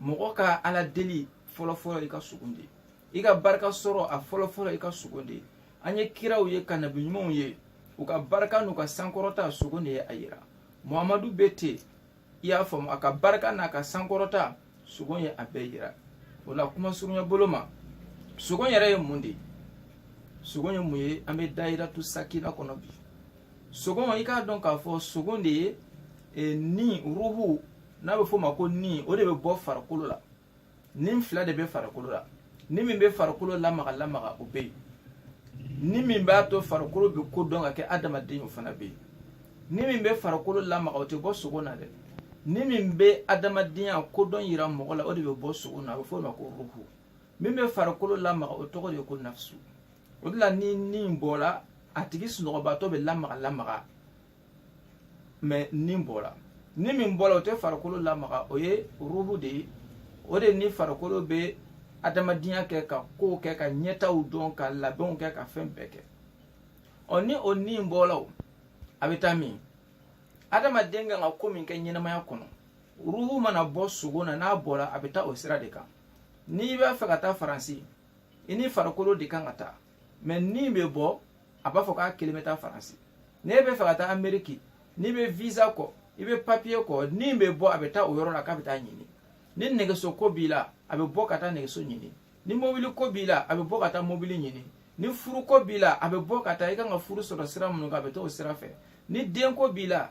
mɔgɔ ka ala deli fɔlɔfɔlɔ i ka sogo de i ka barika sɔrɔ a fɔlɔfɔlɔ i ka sogo de an ye kiraw ye ka nabi ɲumanw ye u ka barika n'u ka sankɔrɔta sogo de ye a yira muhamadu bɛ ten i y'a faamu a ka barika n'a ka sankɔrɔta sogo ye a bɛɛ yira o la kuma surunya bolo ma sogo yɛrɛ ye mun de ye sogo ye mun ye an bɛ dayiratu sakina kɔnɔ bi sogo i k'a dɔn k'a fɔ sogo de ye e, ni ruhu n'a bɛ f'o ma ko ni o de bɛ bɔ farikolo la ni fila de bɛ farikolo la ni min bɛ farikolo lamaga lamaga o bɛ yen ni min b'a to farikolo bɛ ko dɔn ka kɛ adamaden o fana bɛ yen ni min bɛ farikolo lamaga o tɛ bɔ sogo na dɛ ni min bɛ adamadenya kodɔn yira mɔgɔ la o de bɛ bɔ sogo na a bɛ f'o ma ko ruhu min bɛ farikolo lamaga o tɔgɔ de ye ko nafisu o de la ni ni bɔra a tigi sunɔgɔbaatɔ bɛ lamaga lamaga mɛ ni bɔra ni min bɔra o tɛ farikolo lamaga o ye ruhu de ye o de ni farikolo bɛ adamadenya kɛ ka kow kɛ ka ɲɛtaw dɔn ka labɛnw kɛ ka fɛn bɛɛ kɛ ɔ ni o ni bɔra o a bɛ taa min adamaden kan ka ko min kɛ ɲɛnamaya kɔnɔ ruhu mana bɔ sogo na n'a bɔra a bɛ taa o sira de kan n'i b'a fɛ ka taa faransi i ni farikolo de kan ka taa mɛ ni bɛ bɔ a b'a fɔ k'a kelen bɛ taa faransi n'e b'a fɛ ka taa ameriki n'i bɛ visa kɔ i bɛ papiye kɔ ni bɛ bɔ a bɛ taa o yɔrɔ la k'a bɛ taa ɲini ni nɛgɛso ko b'i la a bɛ bɔ ka taa nɛgɛso ɲini ni mobili ko b'i la a bɛ bɔ ka taa mobili ɲini ni furuko b'i la a bɛ bɔ ka taa i kan ka furu sɔrɔ sira minnu kan a bɛ taa o sira fɛ ni denko b'i la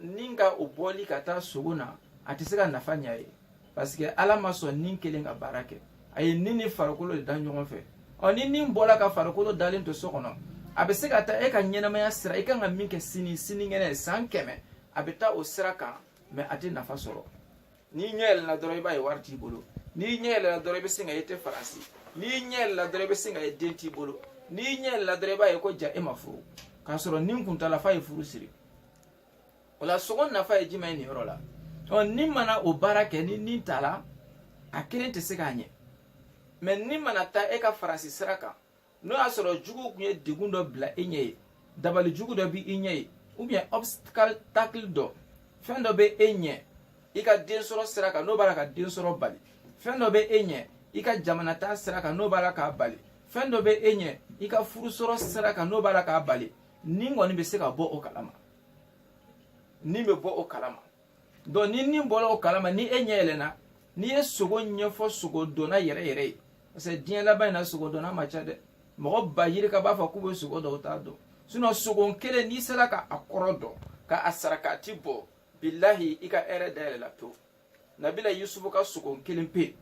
ni ka o bɔli ka taa sogo na a tɛ se ka nafa ɲa ye paseke ala ma sɔn ni kelen ka baara kɛ a ye ni ni farikolo de da ɲɔgɔn fɛ ɔ ni ni bɔra ka farikolo dalen to so kɔnɔ a bɛ se ka taa e ka ɲɛnamaya sira i kan ka min kɛ sini sinikɛnɛ san kɛmɛ a bɛ taa o sira kan mɛ a tɛ nafa sɔrɔ n'i ɲɛ yɛlɛla dɔrɔn i b'a ye wari t'i bolo n'i ɲɛ yɛlɛla dɔrɔn i bɛ sin k'a ye i tɛ faransi n'i ɲɛ yɛlɛla dɔrɔn i bɛ sin k'a ye den t'i bolo n'i ɲɛ yɛlɛla dɔrɔn i b'a ye ko jaa e ma furu k'a sɔrɔ ni kun taala f'a ye furu siri o la sogo nafa ye jumɛn ye nin yɔrɔ la ɔ ni mana o baara kɛ ni ni taala a kelen tɛ se k'a ɲɛ mɛ ni mana taa e ka faransi sira kan n'o y'a sɔrɔ juguw kun ye degun dɔ bila e ɲɛ yen dabali jugu dɔ bɛ i ɲɛ yen ubiyɛn obstacle dɔ fɛn dɔ bɛ e ɲɛ i ka den sɔrɔ sira kan n'o b'a la ka den sɔrɔ bali fɛn dɔ bɛ e ɲɛ i ka jamana taa sira kan n'o b'a la k'a bali fɛn dɔ bɛ e ɲɛ i ka furu sɔrɔ sira kan n'o b'a la k'a bali ni kɔni bɛ se ka bɔ o kalama ni bɛ bɔ o kalama donc ni ni bɔra o kalama ni e ɲɛ yɛlɛnna n'i ye sogo ɲɛfɔ sogo dɔnna yɛrɛ yɛrɛ ye parce que diɲɛ laban in na sogo dɔnna ma ca dɛ mɔgɔ ba yirika b'a fɔ k'u bɛ sogo dɔn u t'a dɔn sinɔn sogo kelen n'i sera ka a kɔrɔ dɔn ka a sarakati bɔ bilahi i ka hɛrɛ dayɛlɛla pewu nabila yusufu ka sogo kelen pe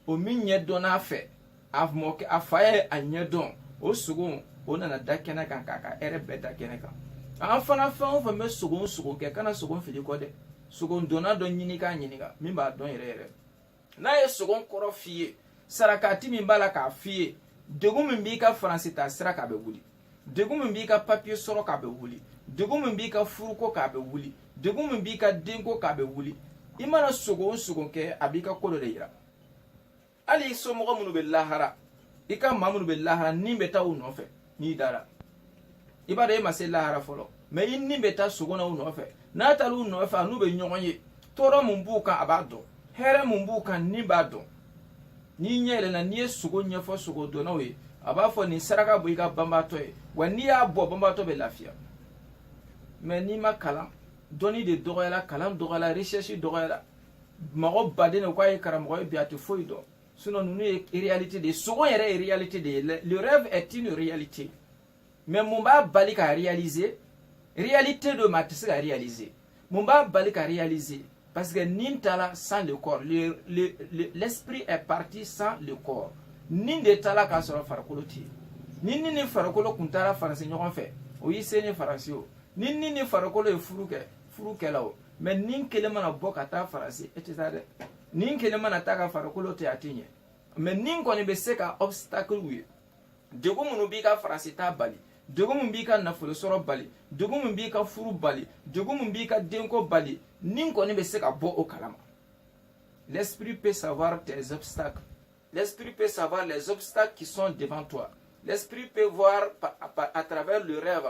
o min ɲɛ dɔnna fɛ a mɔkɛ a fa ye a ɲɛ dɔn o sogo o nana da kɛnɛ kan k'a ka hɛrɛ bɛɛ da kɛnɛ kan an fana fɛn o fɛn bɛ sogo sogo kɛ kana sogo fili kɔ dɛ sogo dɔnna dɔ ɲini k'a ɲininka min b'a dɔn yɛrɛ yɛrɛ n'a ye sogo kɔrɔ f'i ye sarakati min b'a la k'a f'i ye degun min b'i ka faransi taa sira k'a bɛ wuli degun min b'i ka papiye sɔrɔ k'a bɛ wuli degun min b'i ka furuko k'a bɛ wuli degun min b'i ka denko k'a bɛ wuli i mana sogo o sogo kɛ a b'i ka ko dɔ de yira hali i somɔgɔ minnu bɛ lahara i ka maa minnu bɛ lahara ni bɛ taa u nɔfɛ n'i dara i b'a dɔn e ma se lahara fɔlɔ mais i ni bɛ taa sogo na u nɔfɛ n'a taara u nɔfɛ a n'u bɛ ɲɔgɔn ye tɔɔrɔ mun b'u kan a b'a dɔn hɛrɛ mun b'u kan ni b'a dɔn n'i ɲɛ yɛlɛna n'i ye sogo ɲɛfɔ sogo dɔnnaw ye a b'a fɔ nin saraka bɔ i ka banbaatɔ ye wa n'i y'a bɔ banbaatɔ bɛ lafiya mais n'i ma kalan dɔnni de dɔgɔyara kalan dɔgɔyara recherche dɔgɔyara mɔgɔ baden de k'a ye karamɔgɔ ye bi a tɛ foyi dɔn sinon ninnu ye réalité de ye sogo yɛrɛ ye réalité de ye le rêve est une réalité mais mun b'a bali ka réaliser réalité don mais a tɛ se ka réaliser mun b'a bali ka réaliser parce que ni taara sans le corps l'esprit est parti sans le corps ni de taara k'a sɔrɔ farikolo tɛ yen ni ni ni farikolo kun taara faransi ɲɔgɔn fɛ o y'i seni faransi o ni ni ni farikolo ye furu kɛ furu kɛla o mais ni kelen mana bɔ ka taa faransi e tɛ taa dɛ ni kelen mana taa ka farikolo to a tɛ ɲɛ mais ni kɔni bɛ se ka obstacle ye degun minnu b'i ka faransi taa bali degun min b'i ka nafolo sɔrɔ bali degun min b'i ka furu bali degun min b'i ka denko bali ni kɔni bɛ se ka bɔ o kalama l'esprit peut savoir tes obstacles l'esprit peut savoir les obstacles qui sont devant toi l'esprit peut voir à travers le rêve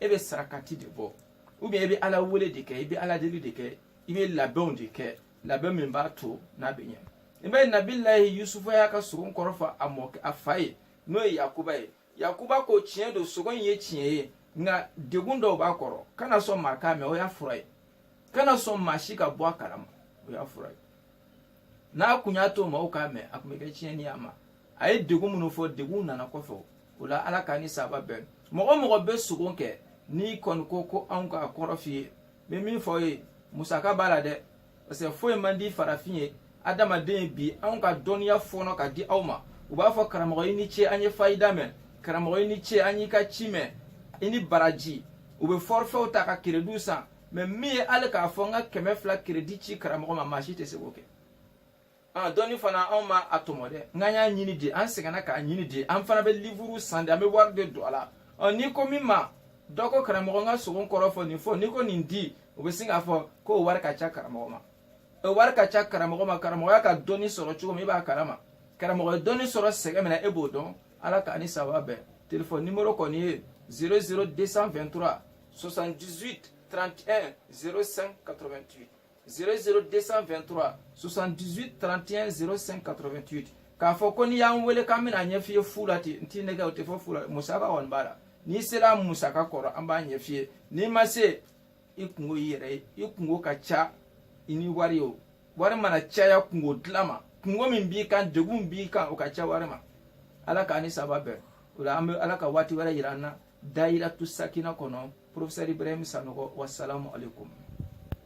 e bɛ sarakati de bɔ ou bien e bɛ ala wele de kɛ i bɛ ala deli de kɛ i bɛ labɛnw de kɛ labɛn min b'a to n'a bɛ ɲɛ i b'a ye nabilayi yusufu y'a ka sogo kɔrɔ fɔ a mɔ a fa ye n'o ye yakuba ye yakuba ko tiɲɛ don sogo in ye tiɲɛ ye nka degun dɔw b'a kɔrɔ kana sɔn maa k'a mɛn o y'a fura ye kana sɔn maa si ka bɔ a kalama o y'a fura ye n'a kun y'a to maaw k'a mɛn a tun bɛ kɛ tiɲɛni ye a ma a ye degun minnu fɔ degun nana kɔfɛ o la ala k'an ni saba bɛn mɔgɔ o mɔgɔ bɛ sogo kɛ n'i kɔni ko ko anw k'a kɔrɔ f'i ye bɛ min fɔ ye musaka b'a la dɛ parce que foyi man di farafin ye adamaden ye bi anw ka dɔnniya fɔɔnɔ ka di aw ma u b'a fɔ karamɔgɔ i ni ce an ye fayida mɛn karamɔgɔ i ni ce an y'i ka ci mɛn i ni baraji u bɛ fɔrifɛw ta ka kerediw san mais min ye hali k'a fɔ n ka kɛmɛ fila keredi ci karamɔgɔ ma maa si tɛ se k'o kɛ a dɔnni fana anw ma a tɔmɔ dɛ nk'an y'a ɲini de an sɛgɛnna k'a ɲini de an fana bɛ livuru san de an bɛ wari de don a la ɔ n'i ko min ma dɔ ko karamɔgɔ n ka sogo kɔrɔ fɔ nin fɔ n'i ko nin di o bɛ sin k'a fɔ ko o wari ka ca karamɔgɔ ma o wari ka ca karamɔgɔ ma karamɔgɔ y'a ka dɔnni sɔrɔ cogo min i b'a kalama karamɔgɔ ye dɔnni sɔrɔ sɛgɛn min na e b'o dɔn ala k'an ni saba bɛn telefɔni nimoro kɔni ye 00 223 78 31 05 88 00223 78 31 05 88 k'a fɔ ko n'i y'an wele k'an bɛn'a ɲɛf'i ye fu la ten n t'i nɛgɛn o tɛ fɔ fu la musaka kɔni b'a la n'i sera musaka kɔrɔ an b'a ɲɛf'i ye n'i ma se i kunko y'i yɛrɛ ye i kunko ka ca i ni wari o wari mana caya kunko dilan ma kunko min b'i kan degun b'i kan o ka ca wari ma ala k'an ni saba bɛn o la an bɛ ala ka waati wɛrɛ yira an na dayiratu sakina kɔnɔ profesɛr ibrahim sanɔgɔ wasalamu aleykum